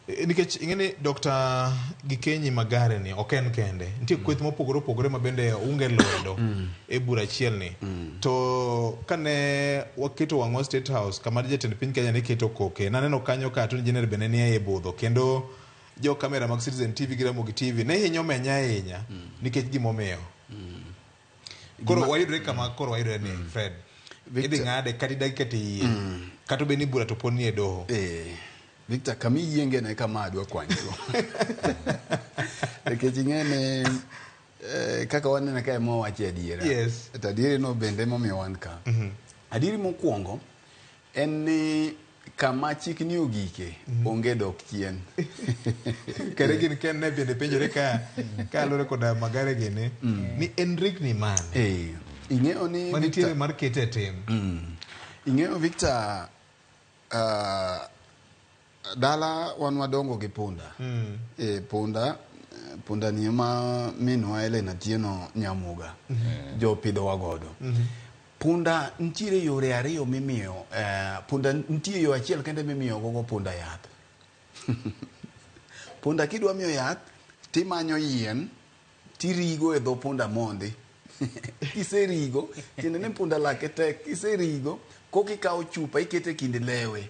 Eh, nikech ing'e ni dr gikenyi magare ni ok en kende nitie kweth mopogore opogore ma bende unge lwedo mm. e bura achiel ni mm. to kane waketo wang'wa state house kama jatend piny kenya ne keto koke naneno kanyo ka attorney general bende ni e budho kendo jo kamera mag citizen tv gi ramogi tv ne hinyo menya ahinya mm. nikech gimomiyo Koro Ma- wayudre kama koro wayudre ni Fred. Victor- Idhi ng'ade kata idagi kata iye. Kata obed ni bura to pod nie doho. Eh, Victor, kama iyienge ne kama adwa kwanyigo. Nikech ing'e ni eh, kaka waneno ka ema wawacho adiera. Yes. To adieri no bende emomiyo wan ka. Adieri mokwongo En ni kama chikni ogike mm. onge dok chien kare gin ken ne bende penjore ka ka lore koda magare gini mm. ni en rigni mane eh, ing'eyo ni manitiere mar kete tim mm. ing'eyo victor uh, Dala wan wadongo gi punda. Mm. E, punda punda ni ma minwa Helena Tieno Nyamuga. Mm -hmm. Jo pidho wagodo. Mm -hmm. Punda ntiere yore ariyo mimiyo eh, punda ntie yo achiel kende mimiyo gogo punda yath. punda kidwa miyo yath timanyo yien tirigo e dho punda mondi. kiserigo tiende ni punda lake tek kiserigo kokikawo chupa ikete kind lewe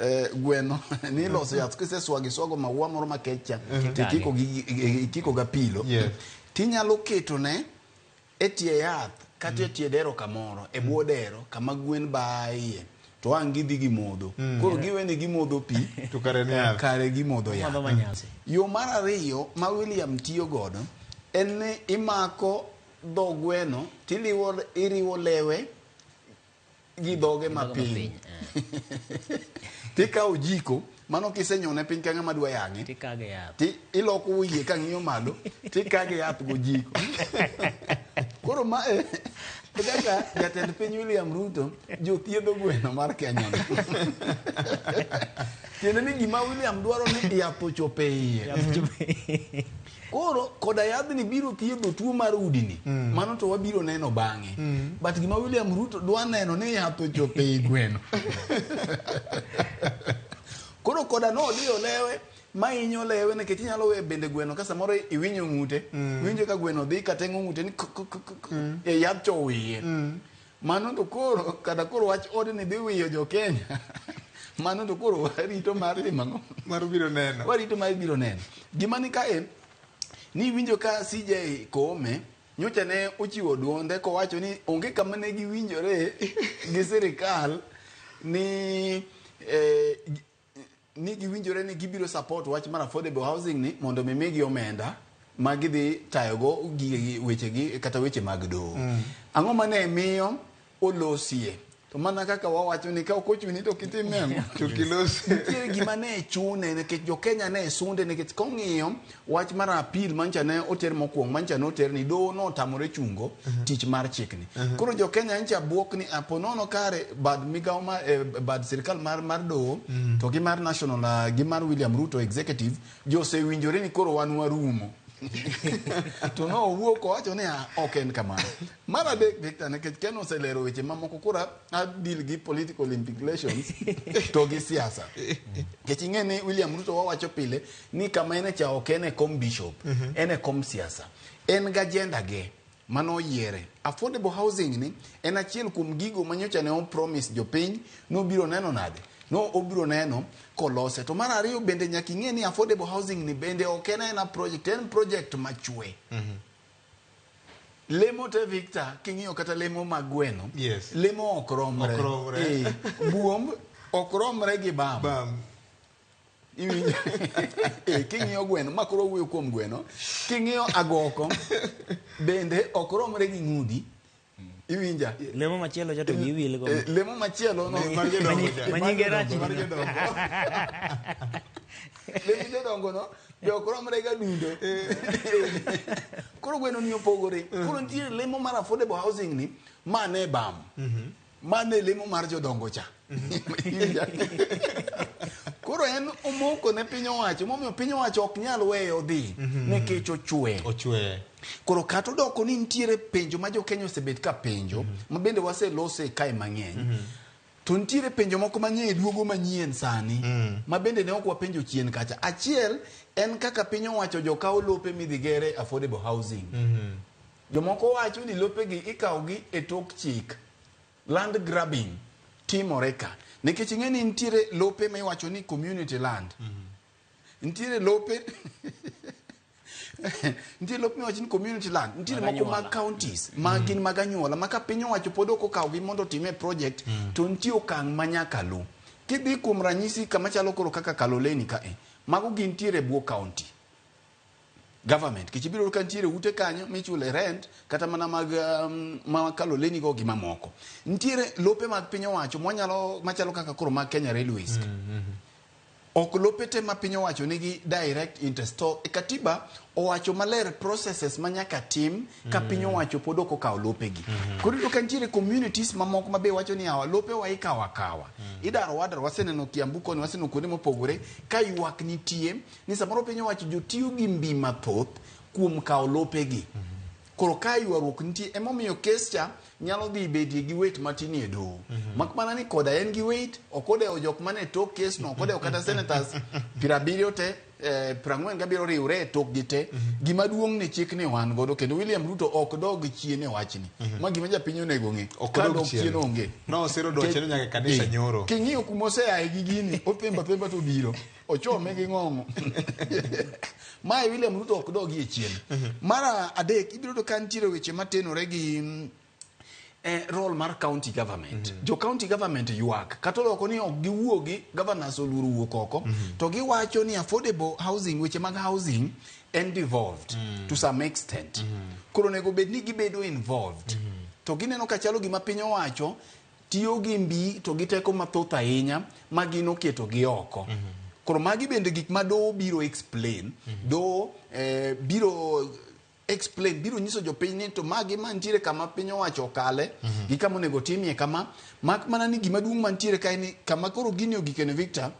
eh, gweno ni iloso yath kiseswago iswago maua moro makech cha to ikiko gi- i- ikiko ga pilo Yes. tinyalo ketone e tie yath kata e tie dero kamoro e bwo dero kama gwen baye to ang' gidhi gimodho koro giweni gimodho pi To kare ni yath. kare gimodho yath Madho manyasi. yo mar ariyo ma william tiyo godo en ni imako dho gweno tiliwo iriwo lewe gi dhoge ma piny tikawo jiko mano kisenyone piny ka ng'ama dwa yang'e iloko wiye ka ng'iyo malo tikage yath go jiko koro ma e kaka jatend piny William Ruto jothiedho gweno mar Kenya tiende ni gima William dwaro ni yath ochope iye koro koda yadhni biro thiedho tuo mar udini mm. mano to wabiro neno bang'e mm. but gima william ruto dwa neno ni yath ochope i gweno koro koda nodiyo lewe ma inyo lewe nikech inyalo we bende gweno ka samoro iwinyo ng'ute mm. winjo ka gweno dhi kateng'o ng'ute ni mm. e yadh chowiye mm. Mano to koro kata koro wach odni dhi wiyo jo Kenya. Mano to koro warito mar timo ang'o? Mar biro neno. Warito mar biro neno. Gima ni kae ni winjo ka CJ Koome nyocha ne ochiwo duonde kowacho ni onge kama ne giwinjore gi sirikal ni eh, ni giwinjore ni gibiro support wach mar affordable housing ni mondo mi migi omenda ma gidhi tayogo gigegi wechegi kata weche mag doho mm. ang'o ma ne miyo olosie to mana kaka wawacho ni ka ok ochuni to kitime to kilose nitie gima ne chune nikech jokenya ne sunde nikech kong'iyo Wach mar appeal mancha ne oter mokwongo mancha ne oter ni doho no otamore chungo uh -huh. tich mar chikni. Uh -huh. Koro jo Kenya ncha bwok ni apo nono kare bad migawo ma eh, bad sirkal mar mar doho uh mm. -huh. to gi mar national uh, gi mar William Ruto executive jo sewinjore ni koro wan warumo. to no owuok owacho ni ah, ok en kamano mar adek victor nikech ken oselero weche mamoko kura adil gi political implications to gi siasa nikech ing'e ni william ruto wawacho pile ni kama en cha ok en e kom bishop mm -hmm. en e kom siasa en ga agenda ge mano yiere affordable housing ni en achiel kuom gigo manyocha ne opromise jopiny nobiro neno nade no obiro neno kolose to mar ariyo bende nyaka ing'e ni affordable housing ni bende ok en ena project en project machwe mm -hmm. lemo te victor king'iyo kata lemo mag gweno yes. lemo ok romre, ok romre. e, buomb ok romre gi bam, bam. Eh, king'iyo gweno ma koro wuoyo kuom gweno king'iyo agoko bende ok romre gi ng'udi iwinja lemo machielo cha to eh, giwil go eh, lemo machielo no manyinge rach lemo jodongo no be ok romre ga dundo koro gweno ni opogore koro nitie lemo mar affordable housing ni ma ne bam mhm. Mano e lemo mar jodongo cha. Koro en omoko ne piny owacho, momiyo piny owacho ok nyal weyo odhi mhm. nikech ochwe. Ochwe. Koro kata odoko ni nitiere penjo ma jo Kenya osebet ka penjo, mhm. ma bende waselose kae mang'eny. Mhm. To nitiere penjo moko mang'eny duogo manyien sani mm. ma bende ne ok wapenjo chien kacha. Achiel en kaka piny owacho jo kawo lope midhi gere affordable housing. Mm -hmm. Jomoko wacho ni lopegi ikawogi e tok chik. Land grabbing timore ka. Nikech ing'e ni nitiere lope ma iwacho ni community land. Mhm. Nitiere lope nitiere lope miwacho ni community land nitiere moko mag counties ma mm. gin mag anyuola ma ka piny owacho pod ok okawgi mondo otime project mm. to nitie okang' ma nyaka luw kidhi kuom ranyisi kama chalo koro kaka kaloleni ka e mago gintiere bwo county government kech ibiro ka nitiere ute kanyo michule rent kata mana mag um, ma kaloleni go gi mamoko nitiere lope mag piny owacho mwanyalo machalo kaka koro mag Kenya Railways ok lope te ma piny owacho nigi direct interest to e katiba owacho maler processes ma nyaka tim ka piny owacho pod ok okawo lopegi koro iyudo ka nitiere communities mamoko ma be wacho ni awa lope wa ikawo akawa idaro wadar waseneno kiambu koni waseneno kuonde mopogore ka ywak nitie ni samoro piny owacho jotiyo gi mbi mathoth kuom kawo lopegi. Koro ka ywaruok nitie emomiyo kes cha nyalo dhi bedie gi wet matin e doho. Mak mana ni koda en gi wet, ok odewo jok mane tok kes no, ok odewo kata senators piero abiriyo te, eh, piero ang'wen gabiriyo riwre e tokgi te. Gima duong' ni chik ni wan godo kendo William Ruto ok dog chien e wachni. Ma gima japiny onego ng'e. Ok Ka odog dok chien. chien onge. Nosiro dwachne nyaka e kanisa Eh, nyoro. King'iyo kuma oseaye gi gini, othemba themba to obiro. ochome gi ng'ong'o mae william ruto ok dogi e chien mar adek ibiro yudo ka nitiere weche matenore gi mm, eh, role mar county government jo county government ywak kata oloko ni ok giwuogi governors oluoro wuok oko to giwacho ni affordable housing weche mag housing en devolved to some extent koro onego bed ni gibedo involved to gineno ka chalo gima piny owacho tiyo gi mbi to gi teko mathoth ahinya ma gin oketo gi oko. Mm -hmm. Koro magi bende gik ma doho biro explain, mm -hmm. doho eh, biro explain biro nyiso jopiny ni to magi mantiere kama piny owacho okale mm -hmm. gi kama onego timie kama mak mana ni gima duong' mantiere kae ni kama koro gini ogikene Victor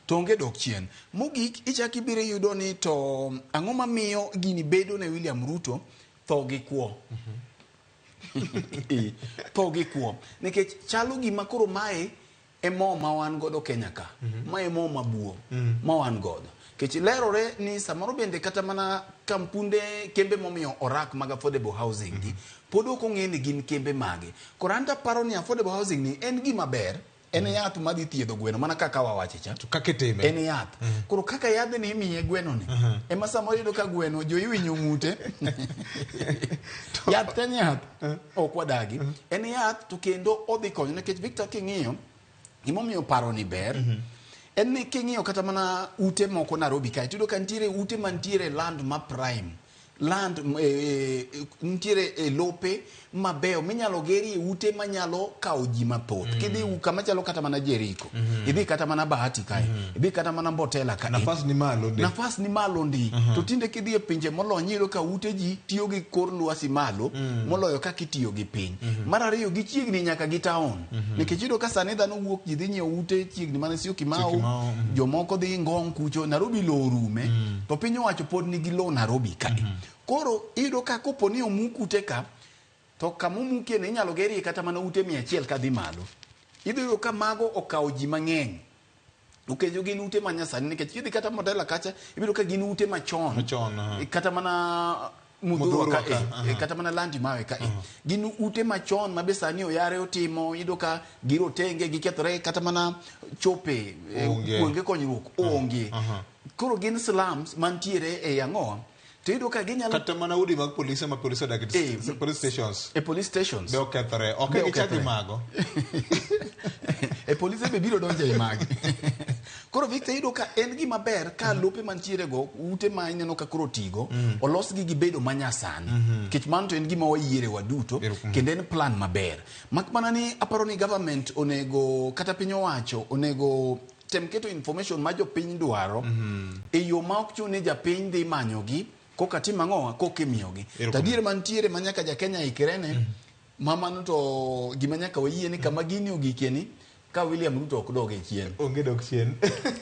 to onge dok chien. Mogik ichak ibiro yudo ni to ang'o mamiyo gini bedo ne William Ruto tho gi kwo. Mm -hmm. Eh, tho gi kuom nikech chalo gima koro mae e mo ma wan godo kenya ka mhm. ma e mo mabuo mm. ma wan godo nikech lerore ni samoro bende kata mana kampunde kembe momiyo orak mag affordable housing gi mhm. pod ok ong'e ni gin kembe mage koro an taparo ni affordable housing ni en gima ber en yath ma dhi thiedho gweno mana kaka wawache cha to kaka itime en yath uh mhm. -huh. koro kaka yadhe ni imiye gweno ni uh mhm. -huh. ema sama yudo ka gweno jo iwinyo ngute yath en yath uh mhm. -huh. ok wadagi uh -huh. en yath to kendo odhi konyo nikech Victor king'iyo gimomiyo paro ni ber uh -huh en ni king'iyo kata mana ute moko Nairobi kae tiyudo ka nitiere ute mantiere land ma prime land m- e- e- e- nitiere e lope mabeyo minyalo gerie ute manyalo kawo ji mathoth kidhi u- kama chalo kata mana jeriko idhi kata mana bahati kae idhi kata mana mbotela kae nafas ni malo ndi nafas ni malo ndi to tinde kidhi e pinje molony iyudo ka ute ji tiyo gi kor lwasi malo moloyo kaka itiyo gi piny mar ariyo gichiegni nyaka gi taon Mhm. Nikech yudo ka sani dhano wuok ji dhi nyiewo ute chiegni mana sio Kimau, mhm. jomoko dhi Ngong kucho, Nairobi lowo rume, mhm. to piny owacho pod nigi lowo Nairobi ka. Koro iyudo ka kopo ni omuk ute ka, to kama omukie ni inyalo gerie kata mana ute mia achiel ka dhi malo. Idhi yudo ka mago okawo ji mang'eny. Okejo gin ute ma nyasani nikech kidhi kata Modela kacha ibiro ka gin ute machon. Machon, aha. Eh, Kata mana Mudhurwa Mudhurwa ka, ka eh, aha. eh, kata mana Landi Mawe ka. eh. Gin ute machon ma be sani oyare otimo yudo ka girotenge gikethore kata mana chope eh, Onge. kuonge konyruok onge. aha. Koro gin slums mantiere e Yang'owa to iyudo ka ginyalo kata mana udi mag polise ma polise odak e Eh, s- police stations e police stations be okethore ok Be gichak okethore. gimago e polise be biro donjo e magi koro victor iyudo ka en gima ber ka lope mantiere go ute ma ineno ka koro tigo olosgi gi bedo manyasani nikech mano to en gima wayiere waduto kendo en plan maber mak mana ni aparo ni government onego kata piny owacho onego tem keto information ma jopiny dwaro e yo ma ok chune japiny dhi manyogi koka tim ang'o koka imiyogi Erokamano. tadier mantiere ma nyaka jakenya ikrene ma mano to gima nyaka wayie ni kama gini ogikie ni ka william ruto ok dog e chien onge dok chien